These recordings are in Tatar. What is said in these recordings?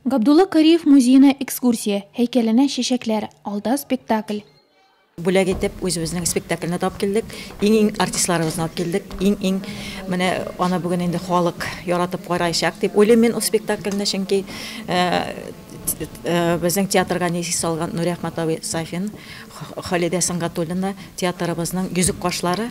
Габдулла Кариев музеена экскурсия, һәйкәленә чәчәкләр, алда спектакль. Бүләк итеп үзебезнең спектакльне тап килдек. Иң-иң артистларыбызны алып килдек. Иң-иң менә аны бүген инде халык яратып караячак дип уйлыйм мин ул спектакльне, чөнки безнең театрга нигез салган Нуриәхмәт абый Сафин, Халидә Сөнгатуллина, театрыбызның йөзек кашлары,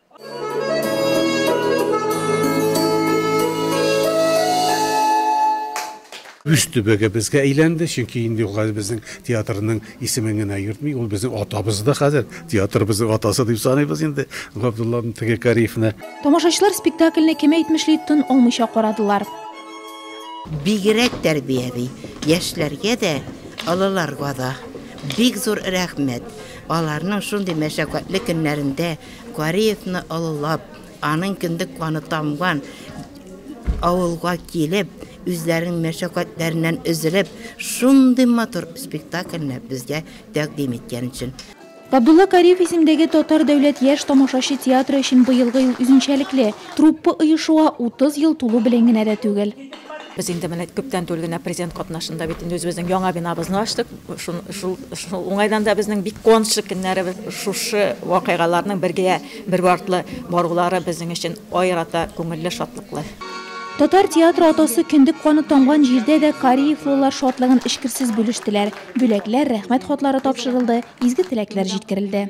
үз төбәгебезгә әйләнде чөнки инде хәзер безнең театрның исемен генә йөртми ул безнең атабыз да хәзер театрыбызның атасы дип саныйбыз инде габдулла тегекариевны тамашачылар спектакльне кем әйтмешли тын алмыйча карадылар бигрәк тәрбияви яшьләргә дә олыларга да бик зур рәхмәт аларның шундый мәшәкатьле көннәрендә Кариевны олылап, аның кендек каны тамган авылга килеп, үзләренең мәшәкатьләреннән өзелеп, шундый матур спектакльне безгә тәкъдим иткән өчен. Габдулла Кариев исемдәге Татар дәүләт яшь тамашачы театры өчен быелгы ел үзенчәлекле, труппа оешуга 30 ел тулу белән генә дә түгел. Без инде менә күптән түгел генә президент катнашында бит инде үзебезнең яңа бинабызны ачтык. Шул, шул, шул уңайдан да безнең бик куанычлы көннәребез шушы вакыйгаларның бергә бер вартлы барулары безнең өчен аерата күңелле, шатлыклы. Татар театры атасы кендек каны тамган җирдә дә кариевлылар шатлыгын эчкерсез бүлештеләр, бүләкләр, рәхмәт хатлары тапшырылды, изге теләкләр җиткерелде.